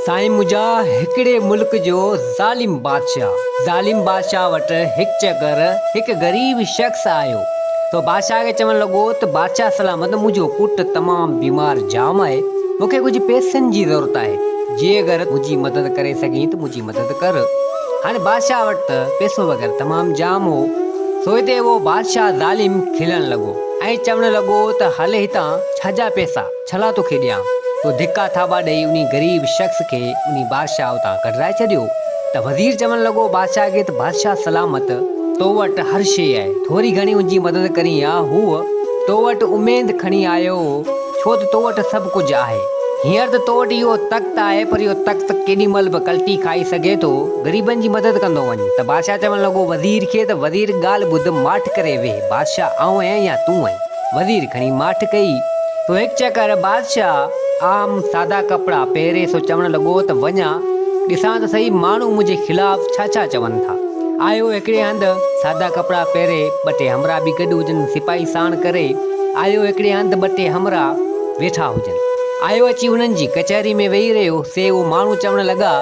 سائين منهنجا هڪڙي ملڪ جو ظالم بادشاهه ظالم بادشاهه وٽ هڪ چڪر هڪ غريب شخص آيو ته بادشاهه کي چوڻ لڳو ته بادشاهه سلامت منهنجو پٽ تمام بيمار جام آهي مون کي ڪجهه پئسن جي ضرورت آهي جي اگر منهنجي مدد ڪري سگهين ته منهنجي مدد ڪر هاڻي بادشاهه وٽ ته پئسو وغيره تمام جام هو سو هتي اهو بادشاهه ظالم کلڻ لڳو ۽ چوڻ لڳو ته هل هتان ڇا جا پئسا ڇلا توکي ڏيان، تو ڌڪا ٿاٻا ڏئي انهي غريب شخص کي انهي بادشاهه اتان ڪڍرائي ڇڏيو. ته وزير چوڻ لڳو بادشاهه کي ته بادشاهه سلامت، تو وٽ هر شيء آهي، ٿوري گهڻي ان جي مدد ڪرين يا هوء تو وٽ اميد کڻي آيو هو، ڇو ته تو وٽ سڀ ڪجهه آهي. هينئر ته تو وٽ اهو تخت آهي، پر اهو تخت ڪيڏي مهل به ڪلٽي کائي سگهي ٿو، غريبن جي مدد ڪندو وڃ. ته بادشاهه چوڻ لڳو وزير کي ته وزير ڳالهه ٻڌ، ماٺ ڪري ويهه، بادشاهه آئون آهيان يا تون آهين؟ وزير کڻي ماٺ ڪئي. سو هڪ چڪر بادشاهه عام سادا ڪپڙا پهري سو چوڻ لڳو ته وڃان ڏسان ته سهي ماڻهو منهنجي خلاف ڇا ڇا چون ٿا. آيو هڪڙي هنڌ سادا ڪپڙا پهري ٻه ٽي همراهه به گڏ هجن سپاهي ساڻ ڪري آيو هڪڙي هنڌ ٻه ٽي همراهه ويٺا هجن آيو اچي انهن جي ڪچهري ۾ ويهي رهيو سي اهو ماڻهو چوڻ لڳا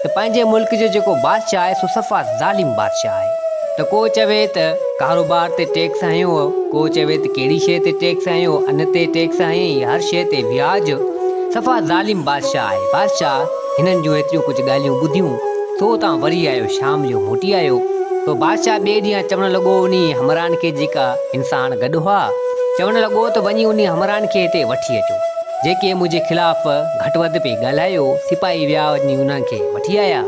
ته پنهنجي ملڪ جو جيڪو بادشاهه آهي سو صفا ظالم بادشاهه آهي ته ڪو چوي ته ڪاروبار تي ٽيڪس هنيو هو، ڪو چوي ته ڪهڙي شيء تي ٽيڪس هنيو، ان تي ٽيڪس هنيئي، هر شيء تي وياج، صفا ظالم بادشاهه آهي. بادشاهه هنن جون ايتريون ڪجهه ڳالهيون ٻڌيون، سو اتان وري آيو، شام جو موٽي آيو، سو بادشاهه ٻئي ڏينهن چوڻ لڳو انهيء همراهن کي جيڪا انسان گڏ هئا، چوڻ لڳو ته وڃي انهيء همراهن کي هتي وٺي اچو، جيڪي منهنجي خلاف گهٽ وڌ پئي ڳالهايو، سپاهي ويا وڃي انهن کي وٺي آيا.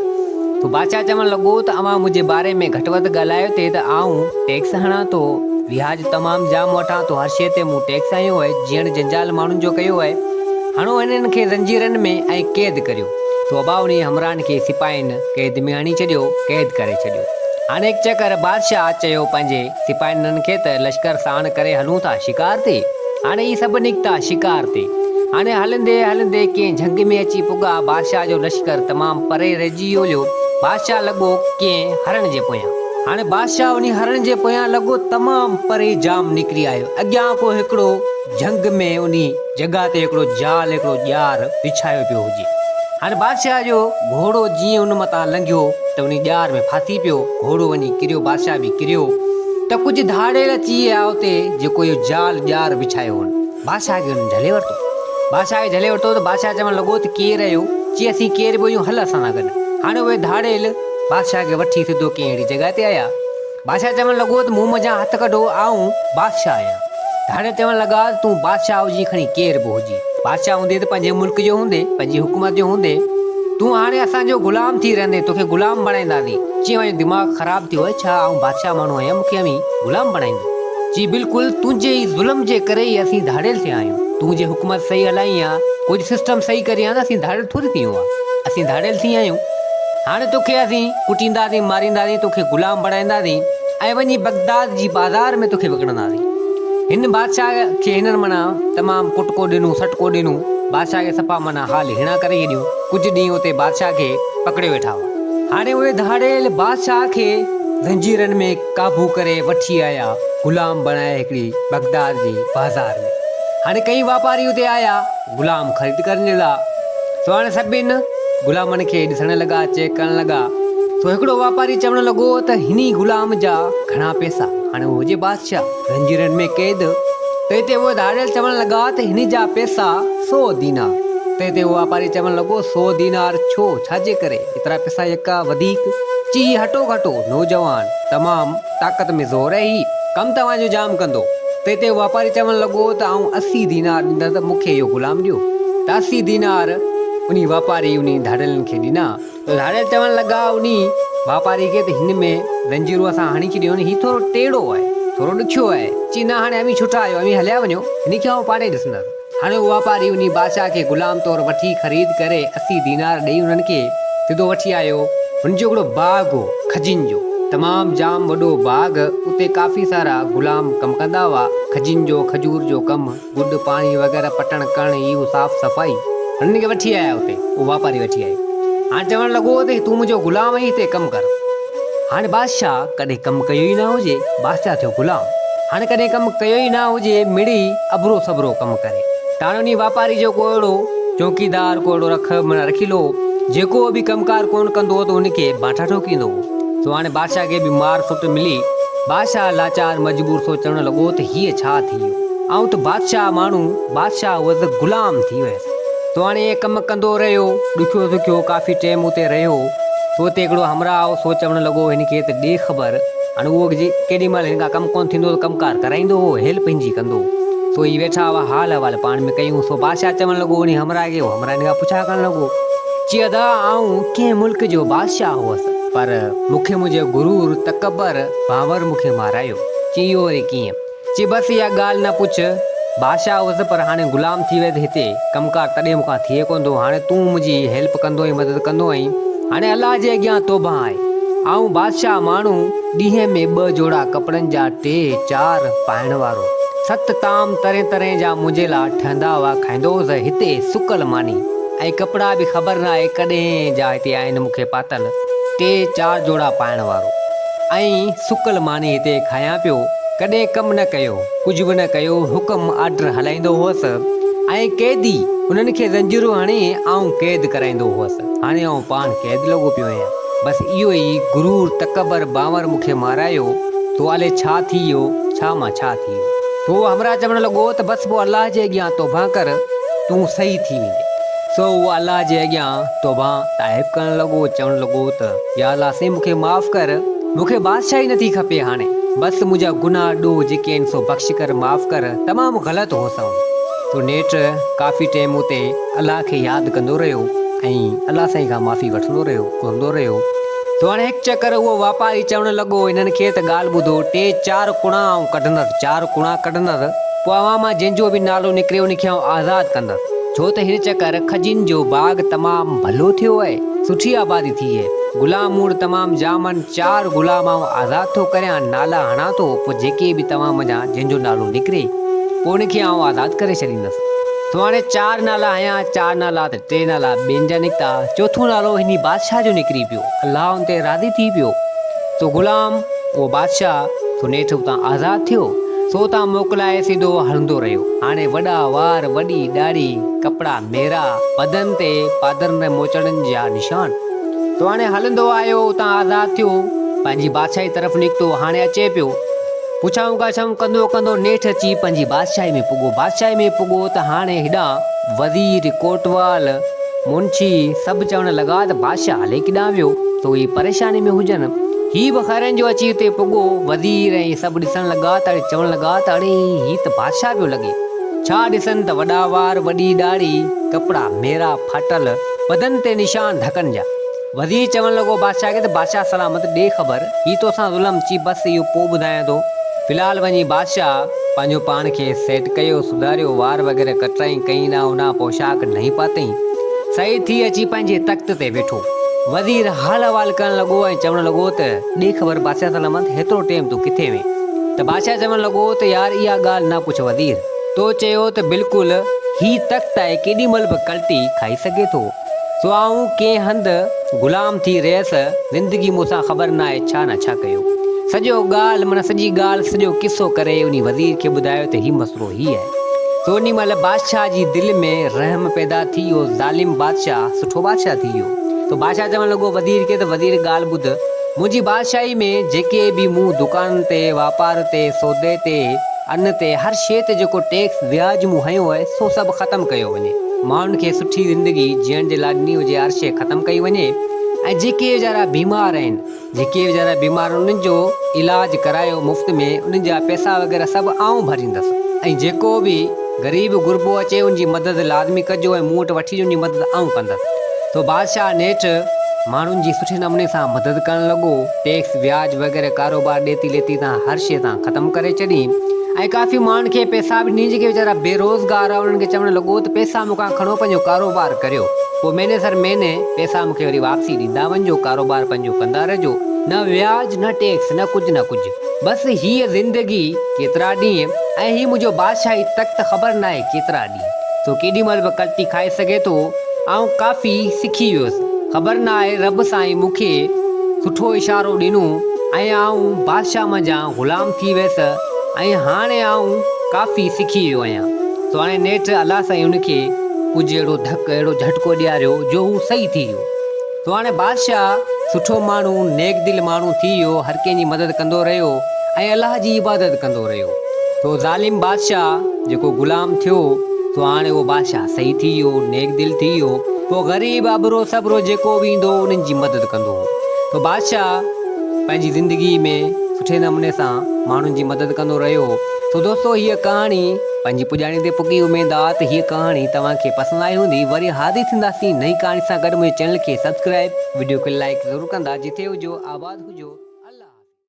ٿو. بادشاهه چوڻ لڳو ته اوهان منهنجي باري ۾ گهٽ وڌ ڳالهايو ٿي ته آئون ٽيڪس هڻان ٿو، وياج تمام جام وٺان ٿو، هر شيء تي مون ٽيڪس هنيو آهي، جيئڻ جنجال ماڻهن جو ڪيو آهي، هڻو هنن کي زنجيرن ۾ ۽ قيد ڪريو. توبه انهيء همراهن کي سپاهين قيد ۾ هڻي ڇڏيو، قيد ڪري ڇڏيو. هاڻي هڪ چڪر بادشاهه چيو پنهنجي. سپاهينن کي ته لشڪر ساڻ ڪري هلون ٿا شڪار تي، هاڻي هي سڀ نڪتا شڪار تي. هاڻي هلندي هلندي ڪنهن جهنگ ۾ اچي پڳا، بادشاهه جو لشڪر تمام پري رهجي ويو هليو، بادشاهه لڳو ڪنهن هرڻ جي پويان. هاڻي بادشاهه انهي هرڻ جي پويان لڳو تمام پري جام نڪري آيو، اڳيان ڪو هڪڙو جهنگ ۾ انهي. جڳهه تي هڪڙو جال هڪڙو ڄار وڇايو پيو هجي. هاڻ بادشاهه جو گهوڙو جيئن ان متان لنگهيو ته انهي ڄار ۾ ڦاسي پيو، گهوڙو وڃي ڪريو بادشاهه به ڪريو ته ڪجهه ڌاڙيل اچي آيا اتي جيڪو اهو جال ڄار وڇايو هئن بادشاهه کي انهن جهلي ورتو. بادشاهه کي جهلي ورتو ته بادشاهه چوڻ لڳو ته ڪير اهو چي اسين ڪير به هيون هل اسان سان گڏ هاڻ اهي ڌاڙيل بادشاهه کي وٺي سڌو ڪنهن اهڙي جڳهه تي آيا. بادشاهه چوڻ لڳو ته مون منجهان هٿ ڪڍو، آئون بادشاهه آهيان. ته هاڻي چوڻ لڳا ته تون بادشاهه هجين کڻي ڪير به هجين. بادشاهه هوندي ته پنهنجي ملڪ جو هوندي، پنهنجي حڪومت جو هوندي. تون هاڻي اسان جو غلام ٿي رهندين، توکي غلام بڻائينداسين. چي اوهان جو دماغ خراب ٿيو آهي ڇا؟ آئون بادشاهه ماڻهو آهيان، مون کي اوهين غلام بڻائيندو؟ چي بلڪل، تنهنجي ئي ظلم جي ڪري ئي اسين ڌاڙيل ٿيا آهيون. تون جي حڪومت صحيح هلائين ها، ڪجهه سسٽم صحيح ڪرين ها ته اسين ڌاڙيل ٿوري ٿيون ها. اسين ڌاڙيل ٿي آهيون. هاڻي توکي اسين. ڪٽينداسين، مارينداسين، تو کي غلام بڻائينداسين ۽ وڃي بغداد جي بازار ۾ تو کي وڪڻنداسين. هن بادشاهه کي هنن معنيٰ تمام ڪٽڪو ڏنو، سٽڪو ڏنو، بادشاهه کي صفا معنيٰ حال هيڻا ڪري ڇڏيون، ڪجهه ڏينهن اتي بادشاهه کي پڪڙي ويٺا هئا. هاڻي اهي ڌاڙيل بادشاهه کي زنجيرن ۾ قابو ڪري وٺي آيا، غلام بڻائي هڪڙي بغداد جي بازار ۾، هاڻي ڪئين واپاري اتي آيا، غلام خريد ڪرڻ جي لاء سواڻ سڀني غلامن کي ڏسڻ لڳا چيڪ ڪرڻ لڳا سو هڪڙو واپاري چوڻ لڳو ته هن ئي غلام جا گهڻا پئسا هاڻي اهو هجي بادشاهه زنجيرن ۾ قيد تنهن تي اهي ڌاڙيل چوڻ لڳا ته هن جا پئسا سو دينار تنهن تي اهو واپاري چوڻ لڳو سو دينار ڇو ڇا جي ڪري ايترا پئسا يڪا وڌيڪ چي هي هٽو گهٽو نوجوان تمام طاقت ۾ زور اهي هي ڪم توهان جو جام ڪندو. تنهن تي واپاري چوڻ لڳو ته آئون اسي دينار ڏيندس ته مون کي اهو غلام ڏيو. ته اسي دينار انهي واپاري انهي ڌاڙيلن کي ڏنا. ته ڌاڙيل چوڻ لڳا انهي واپاري کي ته هن ۾ زنجيرون اسان هڻي ڇڏيون آهن، هي ٿورو ٽيڙو آهي، ٿورو ڏکيو آهي، چي نه هاڻي اوهين ڇٽا آهيو، اوهين هليا وڃو، هن کي آئون پاڙي ڏسندس. هاڻي هو واپاري انهي بادشاهه کي غلام طور وٺي خريد ڪري اسي دينار ڏئي انهن کي سڌو وٺي آيو. هن جو هڪڙو باغ هو، کجين جو تمام جام وڏو باغ، اتي ڪافي سارا غلام ڪم ڪندا هئا، کجين جو، کجور جو ڪم، گڏ، پاڻي وغيره پٽڻ ڪرڻ هي هو صاف صفائي، هنن کي وٺي آيا اتي، اهو واپاري وٺي آيو، هاڻي چوڻ لڳو ته تون منهنجو غلام آهين هتي ڪم ڪر. هاڻي بادشاهه ڪڏهن ڪم ڪيو ئي نه هجي، بادشاهه ٿيو غلام، هاڻي ڪڏهن ڪم ڪيو ئي نه هجي، مڙئي اڀرو سڀرو ڪم ڪري. ٽاڻي انهيء واپاريء جو ڪو اهڙو چوڪيدار، ڪو اهڙو رک معنيٰ رکيلو هو، جيڪو به ڪم ڪار ڪونه ڪندو هو ته ان کي بانٺا ٺوڪيندو هو. سو هاڻي بادشاهه کي به مار سٽ ملي. بادشاهه لاچار مجبور سو چوڻ لڳو ته هيء ڇا ٿي ويو؟ آئون ته بادشاهه ماڻهو، بادشاهه هئس، غلام ٿي ويس. سو هاڻي ائين ڪم ڪندو رهيو. ڏکيو سکيو ڪافي ٽيم اتي رهيو. سو اتي هڪڙو همراهه آئو. سو چوڻ لڳو، هن کي ته ڏي خبر. هاڻي اهو جي ڪيڏي مهل هن کان ڪم ڪونه ٿيندو ته ڪم ڪار ڪرائيندو اهو هيلپ هن جي ڪندو. سو هي ويٺا هئا حال احوال پاڻ ۾ ڪيون. سو بادشاهه چوڻ لڳو انهي همراهه کي. اهو همراهه هن کان پڇا ڪرڻ لڳو. چي ادا آئون ڪنهن ملڪ جو بادشاهه هوس. پر مون کي منهنجي غرور، تڪبر، ڀانور مون کي مارايو. چي اهو وري ڪيئن؟ چي بس اها ڳالهه نه پڇ. بادشاهه هوس پر هاڻي غلام ٿي ويس هتي ڪم ڪار تڏهن مون کان ٿئي ڪونه ٿو. هاڻي تون منهنجي هي هيلپ ڪندو ۽ مدد ڪندو ۽ هاڻي الله جي اڳيان توبهه آهي. آئون بادشاهه ماڻهو، ڏينهن ۾ ٻه جوڙا ڪپڙن جا ٽي چار پائڻ وارو، ست طعام طرحين طرحين جا منهنجي لا ٺهندا هئا کائيندو هوس هتي سڪل ماني ۽ ڪپڙا به خبر ناهي ڪڏهن جا هتي آهن مون کي پاتل ٽي چار جوڙا پائڻ وارو. ائين سڪل ماني هتي کايان پيو، ڪڏهن ڪم نه ڪيو، ڪجهه به نه ڪيو، حڪم، آرڊر، هلائيندو هوس ۽ قيدي، انهن کي زنجيرون هڻي آئون قيد ڪرائيندو هوس، هاڻي آئون پاڻ قيد لڳو پيو آهيان، بس اهو ئي غرور، تڪبر، بانور مون کي مارايو، توالي ڇا ٿي ويو، ڇا مان ڇا ٿي ويو. سو همراهه چوڻ لڳو ته بس پوء الله جي اڳيان توبهه ڪر، تون صحيح ٿي ويندين. سو هو الله جي اڳيان. توبان طائب ڪرڻ لڳو، چوڻ لڳو ته، يا الله سين مون کي معاف ڪر، مون کي بادشاهي نٿي کپي هاڻي، بس منهنجا گناهه ڏوهه جيڪي آهن سو بخش ڪر، معاف ڪر، تمام غلط هوس آئون. تو نيٺ ڪافي ٽيم اتي الله کي ياد ڪندو رهيو ۽ الله سائين کان معافي وٺندو رهيو، گهرندو رهيو. تو هاڻي هڪ چڪر اهو واپاري چوڻ لڳو، هنن کي ته ڳالهه ٻڌو، ٽي چار ڪوڻا آئون ڪڍندس، چار ڪوڻا ڪڍندس، پوء اوهان مان جنهن جو به نالو نڪري ان کي آئون آزاد ڪندس. ڇو ته هن چڪر کجين جو باغ تمام ڀلو ٿيو اهي، سٺي آبادي ٿي اهي، غلام موڙ تمام جامن چار غلام آئون آزاد ٿو ڪريان نالا هڻان ٿو پوء جيڪي به توهان منجهان جنهن جو نالو نڪري پوء ان کي آئون آزاد ڪري ڇڏيندس سو هاڻي چار نالا هنيا چار نالا ته ٽي نالا ٻين جا نڪتا چوٿون نالو هني بادشاهه جو نڪري پيو الله ان تي راضي ٿي پيو. سو غلام، اهو بادشاهه، سو نيٺ اتان آزاد ٿيو، سو اتان موڪلائي سڌو هلندو رهيو. هاڻي وڏا وار، وڏي ڏاڙهي، ڪپڙا ميرا، پدن تي پادرن ۽ موچڙن جا نشان. سو هاڻي هلندو آيو، اتان آزاد ٿيو، پنهنجي بادشاهي طرف نڪتو، هاڻي اچي پيو. پڇائون ڳاڇائون ڪندو ڪندو نيٺ اچي پنهنجي بادشاهي ۾ پڳو. بادشاهي ۾ پڳو ته هاڻي هيڏانهن وزير، ڪوٽوال، منشي سڀ چوڻ لڳا ته بادشاهه الائي ڪيڏانهن ويو؟ سو هي پريشاني ۾ هجن. هي به خيرن جو اچي اتي پڳو. وزير ۽ سڀ ڏسڻ لڳا ته اڙي چوڻ لڳا ته اڙي هي ته بادشاهه پيو لڳي. ڇا ڏسن ته وڏا وار، وڏي ڏاڙهي، ڪپڙا ميرا، ڦاٽل، بدن تي نشان ڌڪن جا. وزير چوڻ لڳو بادشاهه کي ته بادشاهه سلامت ڏي خبر، هي توسان ظلم چي بس اهو پوء ٻڌايان ٿو. في الحال وڃي بادشاهه پنهنجو پاڻ کي سيٽ ڪيو، سڌاريو، وار وغيره ڪٽرائين، ڪئين ڏانهن اڏانهن پوشاڪ نئين پاتائين. سعيد ٿي اچي پنهنجي تخت تي ويٺو. وزير حال احوال ڪرڻ لڳو ۽ چوڻ لڳو ته ڏي خبر بادشاهه سلامت هيترو ٽيم تون ڪٿي هئين؟ ته بادشاهه چوڻ لڳو ته يار اها ڳالهه نه پڇ وزير، تو چيو ته بلڪل هي تخت آهي ڪيڏي مهل به ڪلٽي کائي سگهي ٿو. سو آئون ڪنهن هنڌ غلام ٿي رهيس، زندگي مون سان خبر ناهي ڇا نه ڇا ڪيو. سڄو ڳالهه معنيٰ سڄي ڳالهه سڄو قصو ڪري انهي وزير کي ٻڌايو ته هي مسئلو هي آهي. سو انهي مهل بادشاهه جي دل ۾ رحم پيدا ٿي اهو ظالم بادشاهه سٺو بادشاهه ٿي ويو. سو بادشاهه چوڻ لڳو وزير کي ته وزير ڳالهه ٻڌ، منهنجي بادشاهي ۾ جيڪي به مون دڪانن تي، واپار تي، سودي تي، ان تي، هر شيء تي جيڪو ٽيڪس، وياج، مون هنيو آهي سو سڀ ختم ڪيو وڃي. ماڻهن کي سٺي زندگي جيئڻ جي لاء ڏني هجي آرشي ختم ڪئي وڃي ۽ جيڪي ويچارا بيمار آهن جيڪي ويچارا بيمار آهن انهن جو علاج ڪرايو مفت ۾ انهن جا پئسا وغيره سڀ آئون ڀريندس ۽ جيڪو به غريب غربو اچي ان جي مدد لازمي ڪجو ۽ مون وٽ وٺي اچجو ان جي مدد آئون ڪندس سو بادشاهه نيٺ ماڻهن جي سٺي نموني سان مدد ڪرڻ لڳو. ٽيڪس، وياج وغيره ڪاروبار ڏيتي ليتي تان هر شيء تان ختم ڪري ڇڏي ۽ ڪافي ماڻهن کي پئسا به ڏني جيڪي ويچارا بي روزگار هئا انهن کي چوڻ لڳو ته پئسا مون کان کڻو پنهنجو ڪاروبار ڪريو پوء مهيني سر مهيني پئسا مون کي وري واپسي ڏيندا وڃجو ڪاروبار پنهنجو ڪندا رهجو نه وياج نه ٽيڪس نه ڪجهه نه ڪجهه بس هيء زندگي ڪيترا ڏينهن ۽ هي منهنجو بادشاهي تخت خبر ناهي ڪيترا سو ڪيڏي مهل به ڪلٽي کائي سگهي ٿو. آئون ڪافي سکي ويس. خبر نه آهي رب سائين مون کي سٺو اشارو ڏنو ۽ آئون بادشاهه منجهان غلام ٿي ويس ۽ هاڻي آئون ڪافي سکي ويو آهيان. سو هاڻي نيٺ الله سائين هن کي ڪجهه اهڙو ڌڪ، اهڙو جهٽڪو ڏياريو جو هو صحيح ٿي ويو. سو هاڻي بادشاهه سٺو ماڻهو، نيڪ دل ماڻهو ٿي ويو، هر ڪنهن جي مدد ڪندو رهيو ۽ الله جي عبادت ڪندو رهيو. سو ظالم بادشاهه جيڪو غلام ٿيو، سو هاڻي اهو بادشاهه صحيح ٿي ويو، نيڪ دل ٿي ويو، سو غريب، ابرو سٻرو جيڪو به ايندو هو، انهن جي مدد ڪندو هو. سو بادشاهه پنهنجي زندگي ۾ سٺي نموني سان ماڻهن جي مدد ڪندو رهيو. سو دوستو هيء ڪهاڻي. پنهنجي پڄاڻي تي پڳي اميد آ ته هيء ڪهاڻي توهان کي پسند آئي هوندي وري حاضر ٿينداسين نئين ڪهاڻي سان گڏ منهنجي چينل کي سبسڪرائب وڊيو کي لائيڪ ضرور ڪندا جتي هجو آباد هجو الله حافظ.